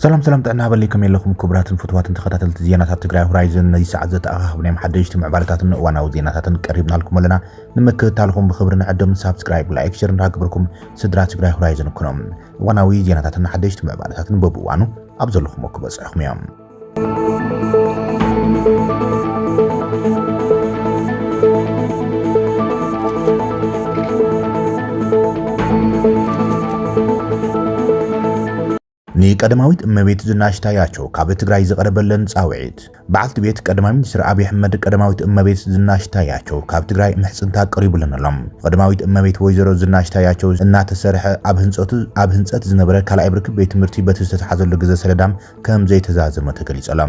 ሰላም ሰላም ጥዕና በለይ ከመይ ኣለኹም ክቡራትን ፍትዋትን ተኸታተልቲ ዜናታት ትግራይ ሆራይዘን ነዚ ሰዓት ዘተኣኻኽብ ናይ ሓደሽቲ ምዕባለታትን እዋናዊ ዜናታትን ቀሪብናልኩም ኣለና ንምክትታልኹም ብክብሪ ንዕድም ሳብስክራይብ ላይክ ሸር እንዳግበርኩም ስድራ ትግራይ ሆራይዘን ኩኖም እዋናዊ ዜናታትን ሓደሽቲ ምዕባለታትን በብእዋኑ ኣብ ዘለኹም ክበፅሑኹም እዮም ቀዳማዊት እመቤት ዝናሽ ታያቸው ካብ ትግራይ ዝቐረበለን ጻውዒት በዓልቲ ቤት ቀዳማይ ሚኒስትር ኣብዪ ኣሕመድ ቀዳማዊት እመቤት ዝናሽ ታያቸው ካብ ትግራይ ምሕጽንታ ቀሪቡለን ኣሎ። ቀዳማዊት እመቤት ወይዘሮ ዝናሽ ታያቸው እናተሰርሐ ኣብ ህንጸቱ ኣብ ህንጸት ዝነበረ ካልኣይ ብርኪ ቤት ትምህርቲ በቲ ዝተተሓዘሉ ግዘ ሰለዳም ከም ዘይተዛዘመ ተገሊጹ ኣሎ።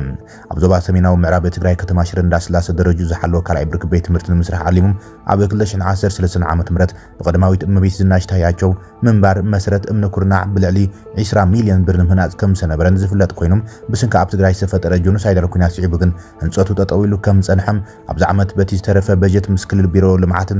ኣብ ዞባ ሰሜናዊ ምዕራብ ትግራይ ከተማ ሽረ እንዳስላሰ ደረጅኡ ዝሓለወ ካልኣይ ብርኪ ቤት ትምህርቲ ንምስራሕ ዓሊሙ ኣብ ክልተ ሽሕን ዓሰርተ ሰለስተን ዓመተ ምህረት ብቀዳማዊት እመቤት ዝናሽ ታያቸው ምንባር መሰረት እምኒ ኩርናዕ ብልዕሊ ዒስራ ሚልዮን ብር ንምህናጽ ከም ዝሰነበረን ዝፍለጥ ኮይኑ ብስንኪ ኣብ ትግራይ ዝተፈጠረ ጆኖሳይዳል ኩናት ስዒቡ ግን ህንጸቱ ጠጠው ኢሉ ከም ዝጸንሐ ኣብዚ ዓመት በቲ ዝተረፈ በጀት ምስ ክልል ቢሮ ልምዓትን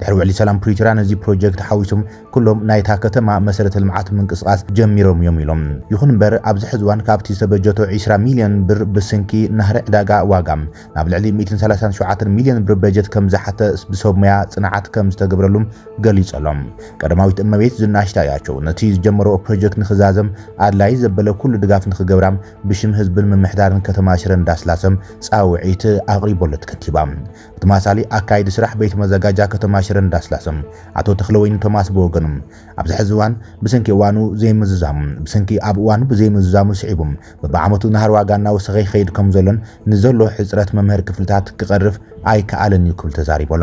ድሕሪ ውዕሊ ሰላም ፕሪቶርያ ነዚ ፕሮጀክት ሓዊሶም ኩሎም ናይታ ከተማ መሰረተ ልምዓት ምንቅስቓስ ጀሚሮም እዮም ኢሎም። ይኹን እምበር ኣብዚ ሕዚ እዋን ካብቲ ዝተበጀቶ ዒስራ ሚልዮን ብር ብስንኪ ናህሪ ዕዳጋ ዋጋ ናብ ልዕሊ ሚእትን ሰላሳን ሸውዓተን ሚልዮን ብር በጀት ከምዝሓተ ብሰብ ሞያ ፅንዓት ከምዝተገብረሉ ገሊፁ ኣሎ። ቀዳማዊት እመቤት ዝናሽ ታያቸው ነቲ ዝጀመረኦ ፕሮጀክት ንክዛዘም ኣድላይ ዘበለ ኩሉ ድጋፍ ንክገብራ ብሽም ህዝብን ምምሕዳርን ከተማ ሽረ እንዳስላሰ ፃውዒት ኣቕሪቦለት ከንቲባ ተማሳሊ ኣካይዲ ስራሕ ቤት መዘጋጃ ከተማ ሽረ እንዳስላሰ ኣቶ ተኽለወይኒ ቶማስ ብወገኑ ኣብዚ ሕዚ እዋን ብስንኪ እዋኑ ዘይምዝዛሙ ብስንኪ ኣብ እዋኑ ብዘይምዝዛሙ ስዒቡ በብዓመቱ ናህሪ ዋጋ እናወሰኸ ይኸይድ ከምዘሎን ንዘሎ ሕፅረት መምህር ክፍልታት ክቐርፍ ኣይከኣልን እዩ ክብል ተዛሪቡ ኣሎ።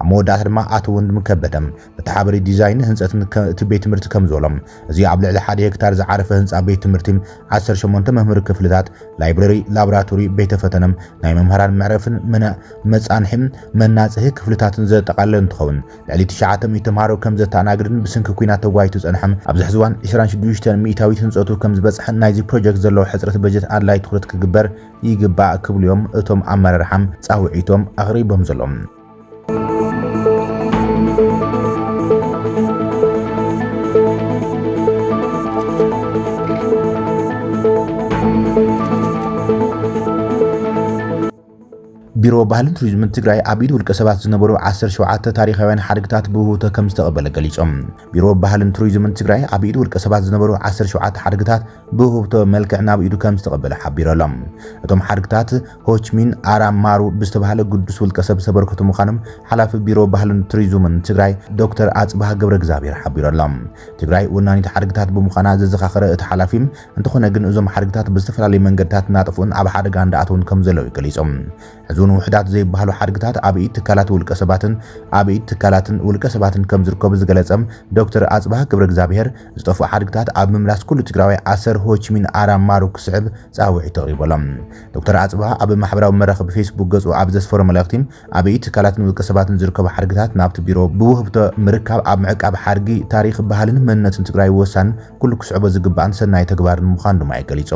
ኣብ መወዳእታ ድማ ኣቶ ወንድሙ ከበደ እቲ ሓበሪ ዲዛይን ህንጸት እቲ ቤት ትምህርቲ ከም ዝበሎ እዚ ኣብ ልዕሊ ሓደ ሄክታር ዝዓረፈ ህንጻ ቤት ትምህርቲ 18 መምህሪ ክፍልታት፣ ላይብረሪ፣ ላብራቶሪ፣ ቤተ ፈተነ፣ ናይ መምህራን መዕረፍን መጻንሒ መናጽሂ ክፍልታትን ዘጠቓለለ እንትኸውን ልዕሊ ትሽዓተ ሚእቲ ተምሃሮ ከም ዘተኣናግድን ብስንኪ ኲናት ተጓይቱ ዝጸንሐ ኣብዚ ሕዚ እዋን ዕስራን ሽዱሽተን ሚእታዊት ህንጸቱ ከም ዝበጽሐን ናይዚ ፕሮጀክት ዘለዎ ሕጽረት በጀት ኣድላይ ትኹረት ክግበር ይግባእ ክብሉ እዮም እቶም ኣመራርሓ ጻውዒቶም ኣቕሪቦም ዘሎም። ቢሮ ባህልን ቱሪዝምን ትግራይ ኣብ ኢድ ውልቀ ሰባት ዝነበሩ 17 ታሪኻውያን ሓድግታት ብውህብቶ ከም ዝተቐበለ ገሊፆም። ቢሮ ባህልን ቱሪዝምን ትግራይ ኣብ ኢድ ውልቀ ሰባት ዝነበሩ 17 ሓድግታት ብውህብቶ መልክዕ ናብ ኢዱ ከም ዝተቐበለ ሓቢሩ ኣሎ። እቶም ሓድግታት ሆችሚን ኣራም ማሩ ብዝተባህለ ግዱስ ውልቀሰብ ዝተበርከቱ ምዃኖም ሓላፊ ቢሮ ባህልን ቱሪዙምን ትግራይ ዶክተር ኣፅብሃ ገብረእግዝኣብሄር ሓቢሩ ኣሎ። ትግራይ ወናኒት ሓድግታት ብምዃና ዘዘኻኸረ እቲ ሓላፊ፣ እንተኾነ ግን እዞም ሓድግታት ብዝተፈላለዩ መንገድታት እናጠፍኡን ኣብ ሓደጋ እንዳኣተዉን ከምዘለዉ ገሊፁ። ሕዚ'ውን ውሑዳት ዘይበሃሉ ሓድግታት ኣብ ኢድ ትካላት ውልቀሰባትን ኣብ ኢድ ትካላትን ውልቀሰባትን ከምዝርከቡ ዝገለፀ ዶክተር ኣፅብሃ ገብረእግዝኣብሄር፣ ዝጠፍኡ ሓድግታት ኣብ ምምላስ ኩሉ ትግራዋይ ኣሰር ሆችሚን ኣራም ማሩ ክስዕብ ፃውዒት ኣቕሪቡ ኣሎ። ዶክተር ኣጽብሃ ኣብ ማሕበራዊ መራኸቢ ፌስቡክ ገጹ ኣብ ዘስፈሮ መልእኽቲ፣ ኣብ ኢድ ትካላትን ውልቀሰባትን ዝርከቡ ሓድግታት ናብቲ ቢሮ ብውህብቶ ምርካብ ኣብ ምዕቃብ ሓድጊ፣ ታሪኽ፣ ባህልን መንነትን ትግራይ ወሳንን ኩሉ ክስዕቦ ዝግባእን ሰናይ ተግባርን ምዃኑ ድማ እዩ ገሊጹ።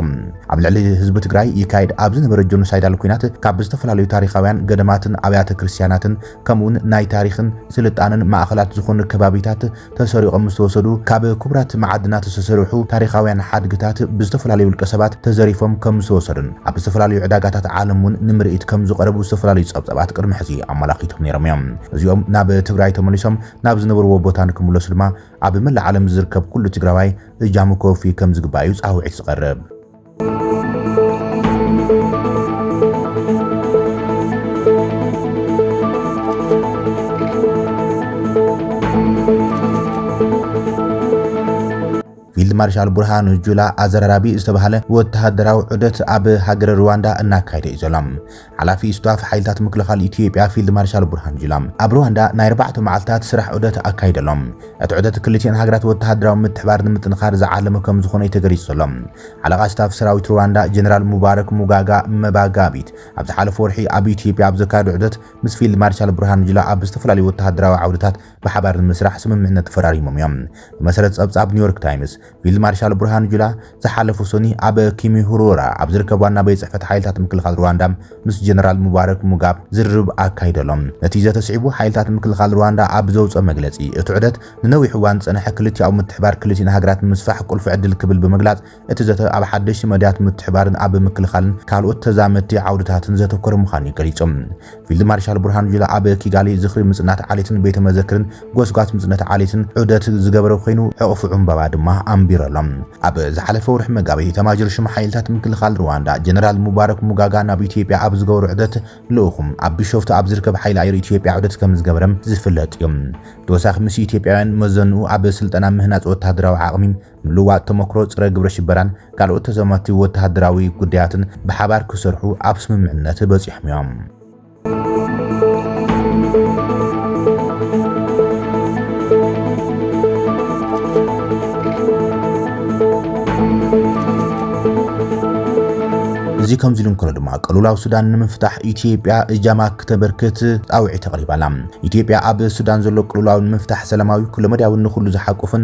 ኣብ ልዕሊ ህዝቢ ትግራይ ይካየድ ኣብ ዝነበረ ጆኖሳይዳል ኲናት ካብ ዝተፈላለዩ ታሪኻውያን ገዳማትን ኣብያተ ክርስትያናትን ከምኡ'ውን ናይ ታሪኽን ስልጣነን ማእኸላት ዝኾኑ ከባቢታት ተሰሪቖም ምስተወሰዱ ካብ ክቡራት መዓድናት ዝተሰርሑ ታሪኻውያን ሓድግታት ብዝተፈላለዩ ውልቀ ሰባት ተዘሪፎም ከም ዝተወሰዱን ኣብ ዝተፈላለዩ ዕዳጋታት ዓለም እውን ንምርኢት ከም ዝቐረቡ ዝተፈላለዩ ጸብጻባት ቅድሚ ሕዚ ኣመላኺቶም ነይሮም እዮም። እዚኦም ናብ ትግራይ ተመሊሶም ናብ ዝነበርዎ ቦታ ንክምለሱ ድማ ኣብ መላእ ዓለም ዝርከብ ኩሉ ትግራዋይ እጃሙ ከወፊ ከም ዝግባእ እዩ ጻውዒት ዝቐርብ። ፊልድ ማርሻል ቡርሃኑ ጁላ ኣዘራራቢ ዝተባህለ ወተሃደራዊ ዑደት ኣብ ሃገረ ሩዋንዳ እናካየደ እዩ ዘሎ። ሓላፊ ስታፍ ሓይልታት ምክልኻል ኢትዮጵያ ፊልድ ማርሻል ቡርሃኑ ጁላ ኣብ ሩዋንዳ ናይ ኣርባዕተ መዓልታት ስራሕ ዑደት ኣካይደሎም። እቲ ዑደት ክልቲኤን ሃገራት ወተሃደራዊ ምትሕብባር ንምጥንኻር ዝዓለመ ከምዝኾነ'ዩ ተገሊፁ ዘሎ። ሓለቓ ስታፍ ሰራዊት ሩዋንዳ ጀነራል ሙባረክ ሙጋጋ መባጋቢት ኣብ ዝሓለፈ ወርሒ ኣብ ኢትዮጵያ ኣብ ዘካየዶ ዑደት ምስ ፊልድ ማርሻል ቡርሃኑ ጁላ ኣብ ዝተፈላለዩ ወተሃደራዊ ዓውድታት ብሓባር ንምስራሕ ስምምዕነት ተፈራሪሞም እዮም ብመሰረት ፀብፃብ ኒውዮርክ ታይምስ። ፊልድ ማርሻል ብርሃኑ ጁላ ዝሓለፉ ሰኑይ ኣብ ኪሚሁሩራ ኣብ ዝርከብ ዋና ቤት ጽሕፈት ሓይልታት ምክልኻል ሩዋንዳ ምስ ጀነራል ሙባረክ ሙጋብ ዝርርብ ኣካይዱ ኣሎ። ነቲ ዘተ ስዒቡ ሓይልታት ምክልኻል ሩዋንዳ ኣብ ዘውጽኦ መግለጺ፣ እቲ ዑደት ንነዊሕ እዋን ዝጸንሐ ክልቲኣዊ ምትሕብባር ክልቲኤን ሃገራት ንምስፋሕ ቁልፊ ዕድል ክብል ብምግላጽ፣ እቲ ዘተ ኣብ ሓደሽቲ መዳያት ምትሕብባርን ኣብ ምክልኻልን ካልኦት ተዛመድቲ ዓውድታትን ዘተኮረ ምዃኑ'ዩ ገሊጹ። ፊልድ ማርሻል ብርሃኑ ጁላ ኣብ ኪጋሊ ዝኽሪ ምጽናት ዓሌትን ቤተ መዘክርን ጎስጓስ ምጽነት ዓሌትን ዑደት ዝገበረ ኮይኑ ሕቝፊ ዕምባባ ድማ ኣንቢረሎም። ኣብ ዝሓለፈ ወርሒ መጋቢት ኢታማዦር ሹም ሓይልታት ምክልኻል ሩዋንዳ ጀነራል ሙባረክ ሙጋጋ ናብ ኢትዮጵያ ኣብ ዝገበሮ ዑደት ልኡኹ ኣብ ቢሾፍቱ ኣብ ዝርከብ ሓይሊ ኣየር ኢትዮጵያ ዑደት ከምዝገበረ ዝፍለጥ እዩ። ብተወሳኺ ምስ ኢትዮጵያውያን መዘንኡ ኣብ ስልጠና ምህናጽ ወተሃደራዊ ዓቕሚ ምልውዋጥ ተሞክሮ ጸረ ግብረሽበራን ካልኦት ተዛመድቲ ወተሃደራዊ ጉዳያትን ብሓባር ክሰርሑ ኣብ ስምምዕነት በጺሖም እዮም። እዚ ከምዚ ኢሉ እንከሎ ድማ ቅልውላው ሱዳን ንምፍታሕ ኢትዮጵያ እጃማ ክተበርክት ጻውዒት ኣቕሪባ ኣላ። ኢትዮጵያ ኣብ ሱዳን ዘሎ ቅልውላው ንምፍታሕ ሰላማዊ፣ ኩለመዳያዊን ንኹሉ ዝሓቁፍን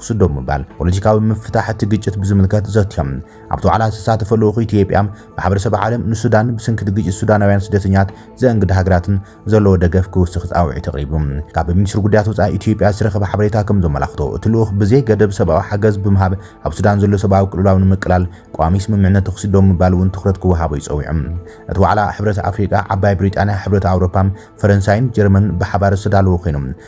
ክስዶ ብምባል ፖለቲካዊ ምፍታሕ እቲ ግጭት ብዝምልከት ዘትዮም። ኣብቲ ዋዕላ ዝተሳተፈ ልኡኽ ኢትዮጵያ፣ ማሕበረሰብ ዓለም ንሱዳን ብስንኪ እቲ ግጭት ሱዳናውያን ስደተኛት ዘእንግዳ ሃገራትን ዘለዎ ደገፍ ክውስኽ ጻውዒት ኣቕሪቡ። ካብ ሚኒስትሪ ጉዳያት ወጻኢ ኢትዮጵያ ዝተረኸበ ሓበሬታ ከም ዘመላኽቶ፣ እቲ ልኡኽ ብዘይ ገደብ ሰብኣዊ ሓገዝ ብምሃብ ኣብ ሱዳን ዘሎ ሰብኣዊ ቅልውላው ንምቅላል ቀዋሚ ስምምዕነት ተዅሲ ደው ምባል እውን ትዅረት ክወሃቦ እዩ ጸዊዑ። እቲ ዋዕላ ሕብረት ኣፍሪቃ፣ ዓባይ ብሪጣንያ፣ ሕብረት ኣውሮፓ፣ ፈረንሳይን ጀርመንን ብሓባር ዝተዳለወ ኰይኑ፣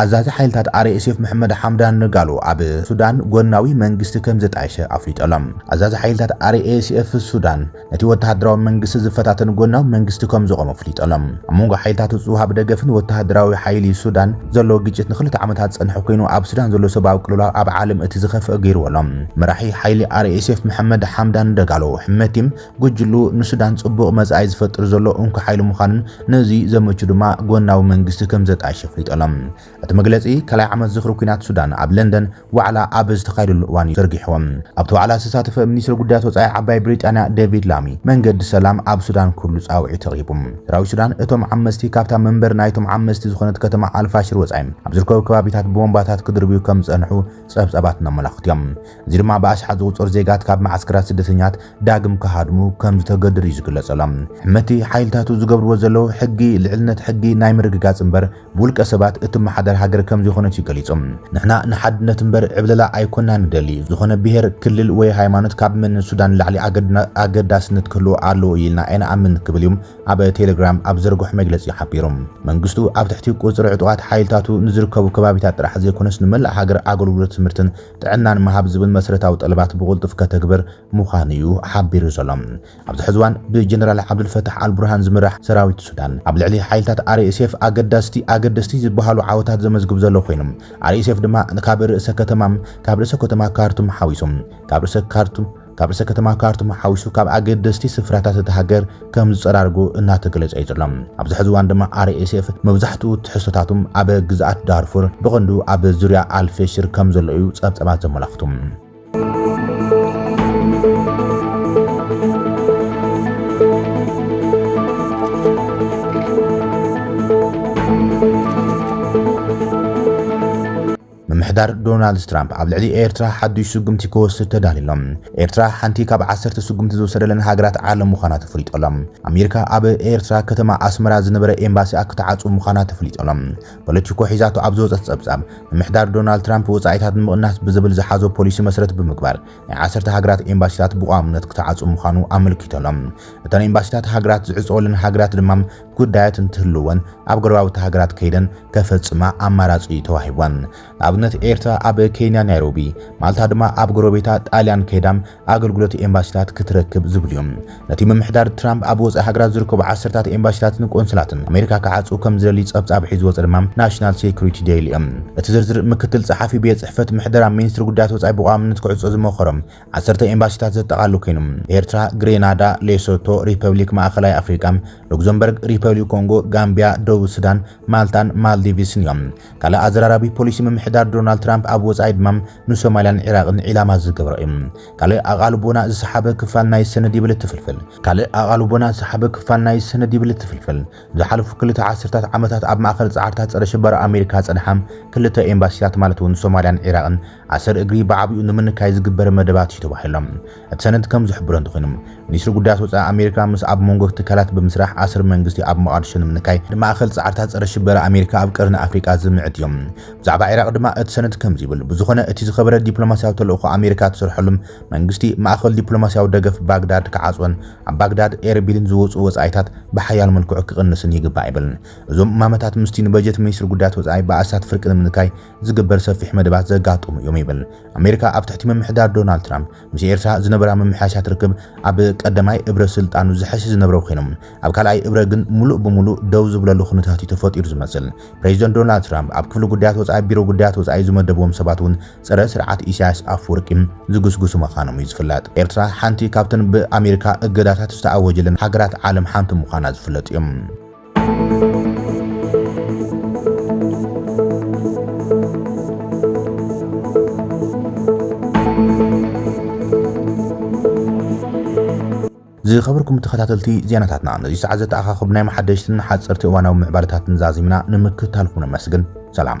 ኣዛዚ ሓይልታት RSF መሕመድ ሓምዳን ንጋሎ ኣብ ሱዳን ጎድናዊ መንግስቲ ከም ዘጣየሸ ኣፍሊጡ ኣሎ። ኣዛዚ ሓይልታት RSF ሱዳን ነቲ ወተሃደራዊ መንግስቲ ዝፈታተን ጎድናዊ መንግስቲ ከም ዘቖመ ኣፍሊጡ ኣሎ። ኣብ መንጎ ሓይልታት እቲ ዝወሃብ ደገፍን ወተሃደራዊ ሓይሊ ሱዳን ዘሎ ግጭት ንኽልተ ዓመታት ዝጸንሐ ኮይኑ ኣብ ሱዳን ዘሎ ሰብኣዊ ቅልውላው ኣብ ዓለም እቲ ዝኸፍኣ ገይርዎ ኣሎ። መራሒ ሓይሊ RSF መሕመድ ሓምዳን ደጋሎ ሕመቲ ጉጅልኡ ንሱዳን ጽቡቕ መጻኢ ዝፈጥር ዘሎ እንኮ ሓይሊ ምዃኑን ነዚ ዘመቹ ድማ ጎናዊ መንግስቲ ከም ዘጣየሸ ኣፍሊጡ ኣሎ። እቲ መግለጺ ካልኣይ ዓመት ዝኽሪ ኲናት ሱዳን ኣብ ለንደን ዋዕላ ኣብ ዝተኻየደሉ እዋን'ዩ ዘርጊሕዎ። ኣብቲ ዋዕላ ዝተሳተፈ ሚኒስተር ጉዳያት ወጻኢ ዓባይ ብሪጣንያ ዴቪድ ላሚ፣ መንገዲ ሰላም ኣብ ሱዳን ክህሉ ጻውዒት ኣቕሪቡ። ሰራዊት ሱዳን እቶም ዓመስቲ ካብታ መንበሪ ናይቶም ዓመስቲ ዝኾነት ከተማ ኣልፋሽር ወጻኢ ኣብ ዝርከቡ ከባቢታት ብቦምባታት ክድርብዩ ከም ዝጸንሑ ጸብጻባት እነመላኽቱ'ዮም። እዚ ድማ ብኣሽሓት ዝቑጸሩ ዜጋት ካብ መዓስከራት ስደተኛት ዳግም ክሃድሙ ከም ዝተገደዱ እዩ ዝግለጸሎም። ሕመቲ ሓይልታቱ ዝገብርዎ ዘለዉ ሕጊ ልዕልነት ሕጊ ናይ ምርግጋጽ እምበር ብውልቀ ሰባት እትመሓደር ሃገር ከም ዘይኮነት እዩ ገሊጹ። ንሕና ንሓድነት እምበር ዕብለላ ኣይኮናን ንደሊ። ዝኾነ ብሄር፣ ክልል ወይ ሃይማኖት ካብ መንነት ሱዳን ንላዕሊ ኣገዳስነት ክህልዎ ኣለዎ ኢልና ኣይንኣምን ክብል እዩ ኣብ ቴለግራም ኣብ ዝዘርግሖ መግለጺ ሓቢሩ። መንግስቱ ኣብ ትሕቲ ቁጽሪ ዕጡቓት ሓይልታቱ ንዝርከቡ ከባቢታት ጥራሕ ዘይኮነስ ንመላእ ሃገር ኣገልግሎት ትምህርትን ጥዕናን ምሃብ ዝብል መስረታዊ ጠለባት ብቕልጡፍ ከተግብር ምዃኑ እዩ ሓቢሩ ዘሎ። ኣብዚ ሕዚ እዋን ብጀነራል ዓብዱልፈታሕ ኣልቡርሃን ዝምራሕ ሰራዊት ሱዳን ኣብ ልዕሊ ሓይልታት RSF ኣገዳስቲ ኣገደስቲ ዝበሃሉ ዓወታት ዘመዝግብ ዘሎ ኮይኑ፣ RSF ድማ ካብ ርእሰ ከተማ ካብ ርእሰ ከተማ ካርቱም ሓዊሱ ካብ ርእሰ ካርቱም ካብ ርእሰ ከተማ ካርቱም ሓዊሱ ካብ ኣገደስቲ ስፍራታት እታ ሃገር ከም ዝጸራርጉ እናተገለጸ እዩ ዘሎ። ኣብዚ ሕዚ እዋን ድማ RSF መብዛሕትኡ ትሕዝቶታቶም ኣብ ግዝኣት ዳርፉር ብቐንዱ ኣብ ዙርያ ኣልፌሽር ከም ዘሎ እዩ ጸብጻባት ዘመላኽቱ። ምምሕዳር ዶናልድ ትራምፕ ኣብ ልዕሊ ኤርትራ ሓዱሽ ስጉምቲ ክወስድ ተዳልዩ ኣሎ። ኤርትራ ሓንቲ ካብ ዓሰርተ ስጉምቲ ዝወሰደለን ሃገራት ዓለም ምዃና ተፈሊጡ ኣሎ። ኣሜሪካ ኣብ ኤርትራ ከተማ ኣስመራ ዝነበረ ኤምባሲኣ ክትዓጽው ምዃና ተፈሊጡ ኣሎ። ፖለቲኮ ሒዛቶ ኣብ ዝወጸት ጸብጻብ፣ ምምሕዳር ዶናልድ ትራምፕ ወጻኢታት ንምቕናስ ብዝብል ዝሓዞ ፖሊሲ መሰረት ብምግባር ናይ ዓሰርተ ሃገራት ኤምባሲታት ብቋምነት ክትዓጽው ምዃኑ ኣመልኪቱ ኣሎ። እተን ኤምባሲታት ሃገራት ዝዕጸወለን ሃገራት ድማ ጉዳያት እንትህልወን ኣብ ጎረባብቲ ሃገራት ከይደን ከፈጽማ ኣማራጺ እዩ ተዋሂቧን። ንኣብነት ኤርትራ ኣብ ኬንያ ናይሮቢ፣ ማልታ ድማ ኣብ ጎረቤታ ጣልያን ከይዳም ኣገልግሎት ኤምባሲታት ክትረክብ ዝብሉ እዮም። ነቲ ምምሕዳር ትራምፕ ኣብ ወጻኢ ሃገራት ዝርከቡ ዓሰርታት ኤምባሲታትን ቆንስላትን ኣሜሪካ ክዓጹ ከም ዝደሊ ጸብጻብ ሒዙ ዝወጸ ድማ ናሽናል ሴኩሪቲ ደይሊ እዮም። እቲ ዝርዝር ምክትል ጸሓፊ ቤት ጽሕፈት ምሕደራ ሚንስትሪ ጉዳያት ወጻኢ ብቋምነት ክዕጾ ዝመኸሮም ዓሰርተ ኤምባሲታት ዘጠቓሉ ኮይኑ፣ ኤርትራ፣ ግሬናዳ፣ ሌሶቶ፣ ሪፐብሊክ ማእኸላይ ኣፍሪቃ፣ ሉክዘምበርግ፣ ሪፐብሊክ ኮንጎ፣ ጋምቢያ፣ ደቡብ ሱዳን፣ ማልታን ማልዲቭስን እዮም። ካልእ ኣዘራራቢ ፖሊሲ ምምሕዳር ዶናልድ ትራምፕ ኣብ ወጻኢ ድማ ንሶማልያን ዒራቕን ዒላማ ዝገበረ እዩ። ካልእ ኣቓልቦና ዝሰሓበ ክፋል ናይ ሰነድ ይብል እቲ ፍልፍል። ካልእ ኣቓልቦና ዝሰሓበ ክፋል ናይ ሰነድ ይብል እቲ ፍልፍል፣ ዝሓለፉ ክልተ ዓሰርታት ዓመታት ኣብ ማእከል ጻዕርታት ጸረ-ሽበራ ኣሜሪካ ዝጸንሓ ክልተ ኤምባሲታት ማለት እውን ሶማልያን ዒራቕን ኣሰር እግሪ ብዓቢኡ ንምንካይ ዝግበር መደባት እዩ ተባሂሎም። እቲ ሰነድ ከም ዝሕብሮ እንተኾይኑ፣ ሚኒስትሪ ጉዳያት ወጻኢ ኣሜሪካ ምስ ኣብ ሞንጎ ትካላት ብምስራሕ ኣሰር መንግስቲ ኣብ ሞቓድሾ ንምንካይ፣ ንማእከል ጻዕርታት ጸረ ሽበራ ኣሜሪካ ኣብ ቀርኒ ኣፍሪቃ ዝምዕት እዩ። ብዛዕባ ዒራቕ ድማ እቲ ሰነድ ከምዚ ይብል፣ ብዝኾነ እቲ ዝኸበረ ዲፕሎማስያዊ ተልእኾ ኣሜሪካ ትሰርሐሉ፣ መንግስቲ ማእከል ዲፕሎማስያዊ ደገፍ ባግዳድ ክዓጽዎን ኣብ ባግዳድ ኤርቢልን ዝወጽኡ ወጻኢታት ብሓያል መልክዑ ክቕንስን ይግባእ ይብል። እዞም እማመታት ምስቲ ንበጀት ሚኒስትሪ ጉዳያት ወጻኢ ብኣስታት ፍርቂ ንምንካይ ዝግበር ሰፊሕ መደባት ዘጋጠሙ እዮም ይብል። ኣሜሪካ ኣብ ትሕቲ ምምሕዳር ዶናልድ ትራምፕ ምስ ኤርትራ ዝነበራ ምምሕያሻት ርክብ ኣብ ቀዳማይ እብረ ስልጣኑ ዝሐሸ ዝነብረ ኮይኑ ኣብ ካልኣይ እብረ ግን ሙሉእ ብሙሉእ ደው ዝብለሉ ኩነታት እዩ ተፈጢሩ ዝመስል። ፕሬዚደንት ዶናልድ ትራምፕ ኣብ ክፍሊ ጉዳያት ወፃኢ ቢሮ ጉዳያት ወፃኢ ዝመደብዎም ሰባት እውን ፀረ ስርዓት ኢሳያስ ኣፈወርቂ ዝጉስጉሱ ምዃኖም እዩ ዝፍለጥ። ኤርትራ ሓንቲ ካብተን ብኣሜሪካ እገዳታት ዝተኣወጀለን ሃገራት ዓለም ሓንቲ ምዃና ዝፍለጥ እዩ። ዝኸበርኩም ተኸታተልቲ ዜናታትና ነዚ ሰዓት ዘተኣኻኸብናዮም ሓደሽትን ሓጸርቲ እዋናዊ ምዕባለታትን ዛዚምና ንምክትታልኩም ነመስግን። ሰላም።